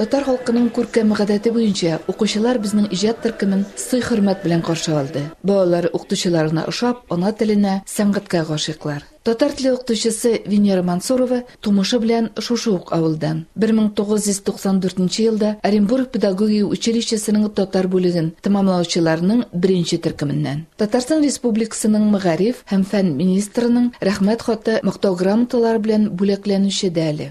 Татар халкының күркәм гадәте буенча, укучылар безнең иҗат төркемен сый-хөрмәт белән каршы алды. Балалар укытучыларына ошап, ана теленә, сәнгатькә гашыйклар. Татар теле укытучысы Венера Мансурова тумышы белән шушы ук авылдан. 1994 нче елда Оренбург педагогия училищесының татар бүлеген тәмамлаучыларның беренче төркеменнән. Татарстан Республикасының мәгариф һәм фән министрының Рәхмәт хаты, Мактау грамоталары белән бүләкләнүче дә әле.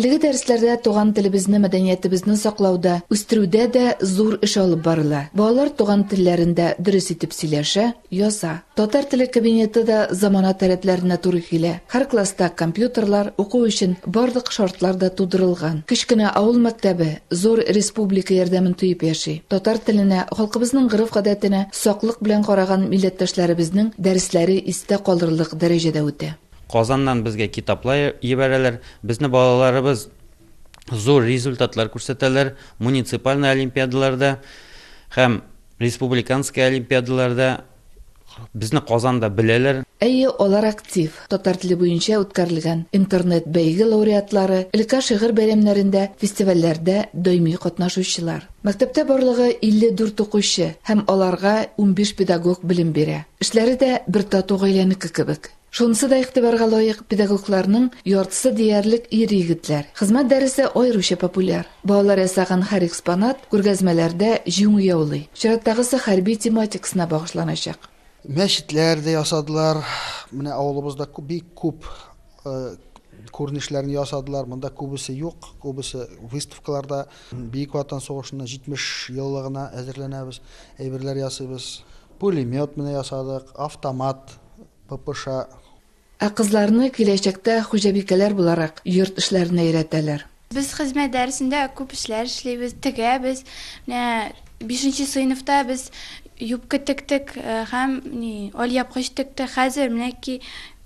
Әлеге дәресләрдә туган телебезне, мәдәниятебезне саклауда, үстерүдә дә зур эш алып барыла. Балалар туган телләрендә дөрес итеп сөйләшә, яза. Татар теле кабинеты да замана таләпләренә туры килә. Һәр класста компьютерлар, уку өчен барлык шартлар да тудырылган. Кечкенә авыл мәктәбе зур республика ярдәмен тоеп яши. Татар теленә, халкыбызның гореф-гадәтенә саклык белән караган милләттәшләребезнең дәресләре истә калырлык дәрәҗәдә үтә. Казаннан безгә китаплар ебәрәләр, безне балаларыбыз зур результатлар күрсәтәләр, муниципальный олимпиадаларда һәм республиканский олимпиадаларда безне Казанда беләләр. Әйе, алар актив, татар теле буенча үткәрелгән интернет-бәйге лауреатлары, өлкә шигырь бәйрәмнәрендә, фестивальләрдә даими катнашучылар. Мәктәптә барлыгы 54 укучы һәм аларга унбиш педагог белем бирә. Эшләре дә бер тату гаиләнеке кебек. Шунысы да игътибарга лаек, педагогларның яртысы диярлек ир-егетләр. Хезмәт дәресе аеруча популяр. Балалар ясаган һәр экспонат күргәзмәләрдә җиңү яулый. Чираттагысы хәрби тематикасына багышланачак. Мәчетләр дә ясадылар. Менә авылыбызда күп, бик күп күренешләрен ясадылар. Монда күбесе юк, күбесе выставкаларда. Бөек Ватан сугышына 70 еллыгына әзерләнәбез, әйберләр ясыйбыз. Пулемет менә ясадык, автомат, ППШ. Ә кызларны киләчәктә хуҗабикәләр буларак йорт эшләренә өйрәтәләр. Без хезмәт дәресендә күп эшләр эшлибез, тегәбез. Менә бишенче сыйныфта без юбка тектек һәм ни алъяпкыч тектек. Хәзер менә ки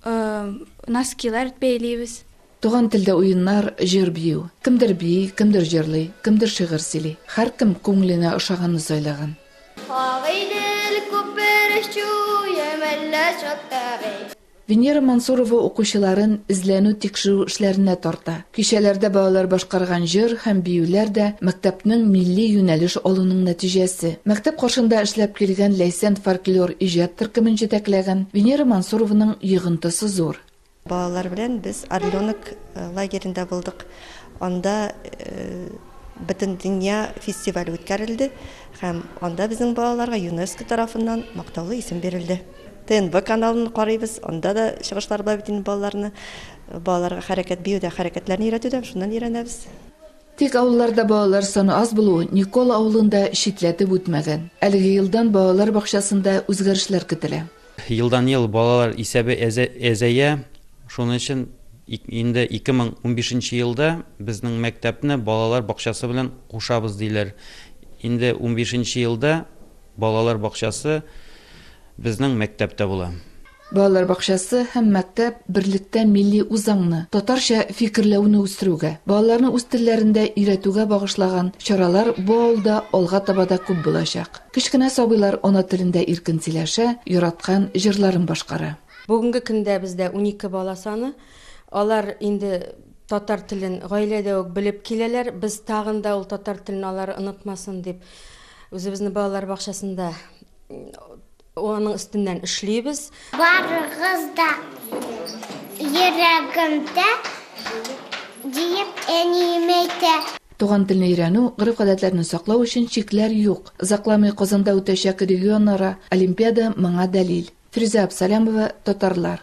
носкилар бәйлибез. Туган телдә уеннар, җыр бию. Кемдер бии, кемдер җырлый, кемдер шигырь сөйли. Һәркем күңеленә ошаганны сайлаган. Венера Мансурова укучыларын эзләнү-тикшерү эшләренә тарта. Кичәләрдә балалар башкарган җыр һәм биюләр дә, мәктәпнең милли юнәлеш алуның нәтиҗәсе. Мәктәп каршында эшләп килгән Ләйсән фольклор иҗат төркемен җитәкләгән Венера Мансурованың йогынтысы зур. Балалар белән без Орленок лагеренда булдык. Анда Бөтендөнья фестивале үткәрелде һәм анда безнең балаларга ЮНЕСКО тарафыннан мактаулы исем бирелде. ТНВ каналын карыйбыз, анда да чыгышлар бар бит инде балаларны. Балаларга хәрәкәт биюдә, хәрәкәтләрне өйрәтүдә шуннан өйрәнәбез. Тик авылларда балалар саны аз булуы Никола авылын да читләтеп үтмәгән. Әлеге елдан балалар бакчасында үзгәрешләр көтелә. Елдан-ел балалар исәбе әзәя, шуның өчен инде 2015 нче елда безнең мәктәпне балалар бакчасы белән кушабыз диләр. Инде унбиш нче елда балалар бакчасы безнең мәктәптә була. Балалар бакчасы һәм мәктәп берлектә милли үзаңны, татарча фикерләүне үстерүгә, балаларны үз телләрендә өйрәтүгә багышлаган чаралар бу авылда алга таба да күп булачак. Кечкенә сабыйлар ана телендә иркен сөйләшә, яраткан җырларын башкара. Бүгенге көндә бездә унике бала саны. Алар инде татар телен гаиләдә үк белеп киләләр. Без тагын да ул татар телен алар онытмасын дип, үзебезнең балалар бакчасында аның өстеннән эшлибез. Барыгыз да йөрәгемдә, диеп әнием әйтә. Туган телне өйрәнү, гореф-гадәтләрне саклау өчен чикләр юк. Озакламый Казанда үтәчәк регионара олимпиада моңа дәлил. Фирүзә Абсалямова, Татарлар.